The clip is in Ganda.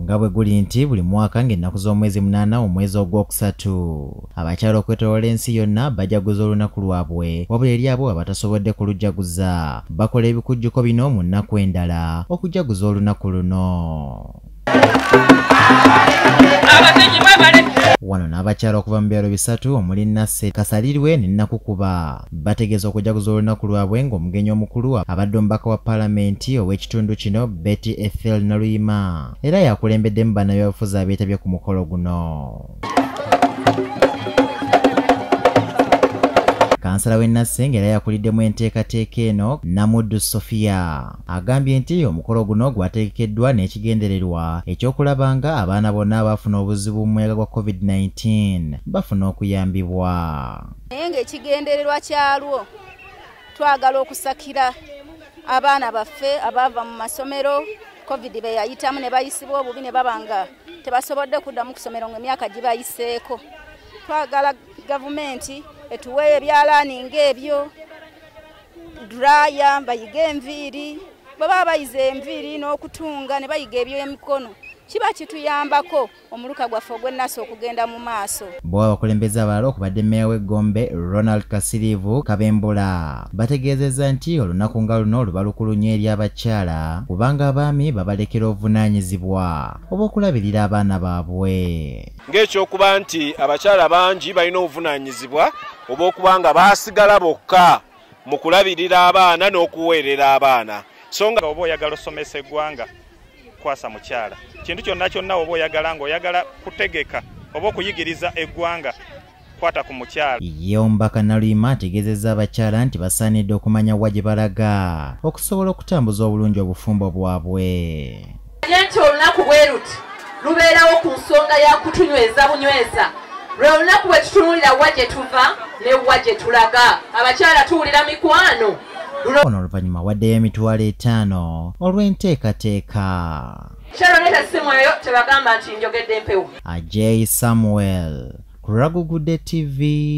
nga bwe guli nti buli mwaka ng'ennaku z'omwezi munaana omwezi ogwokusatu abakyala okwetolola ensi yonna bajaguza olunaku lwabwe wabula eri abo abatasobodde kulujaguza bakola ebikujjuko bino mu nnaku endala okujaguza olunaku luno wano n'abakyala okuva mu byalo bisatu omuli nasse kasalirwe ne nakukuba Bategeeza okujaguza olunaku lwabwe ng'omugenyi omukulu abadde omubaka wa palamenti ow'ekitundu kino Betty Ethel Naluyima era yakulembeddemu bannabyabufuzi abeetabye ku mukolo guno. kansala w'e Nassenge era yakuliddemu enteekateeka eno Namuddu Sofia agambye nti omukolo guno gwategekeddwa n'ekigendererwa eky'okulaba nga abaana bonna abaafuna obuzibu mu muyaga gwa COVID-19 bafuna okuyambibwa. naye ng'ekigendererwa kyalwo twagala okusakira abaana baffe abaava mu masomero covid be yayitamu ne bayisibwa obubi ne baba nga tebasobodde kuddamu kusomero ng'emyaka gibayiseeko twagala gavumenti etuweeyo ebyalaani ng'ebyo duraya bayige enviiri bwe baba bayize enviiri n'okutunga ne bayiga eby'emikono kiba kituyambako omuluka gwaffe ogw'ennasu okugenda mu maaso bwe abakulembeze abalala okubadde meeya w'eggombe ronald kasiriivu kabembula bategeezezza nti olunaku nga luno luba lukulu nnyo eri abakyala kubanga abaami babalekera obuvunaanyizibwa obw'okulabirira abaana baabwe ng'ekyokuba nti abakyala bangi balina obuvunaanyizibwa obw'okuba nga baasigala bokka mu kulabirira abaana n'okuweerera abaana so nga oba oyagala osomesa eggwanga kwasa mukyala kintu kyonna kyonna oba oyagala nga oyagala kutegeka oba okuyigiriza eggwanga kwata ku mukyala ye omubaka naluyima ategeezezza abakyala nti basaanidde okumanya wa gye balaga okusobola okutambuza obulungi obufumbo bwabwe ye nti olunaku bwe luti lubeerawo ku nsonga ya kutunyweza bunyweza lwe lunaku bwe tutunulira wa gye tuva ne wa gye tulaga abakyala tuwulira mikwano ono oluvannyuma waddeyo emitwalo etaano olw'enteekateeka ajay samuel ku ragugudde tv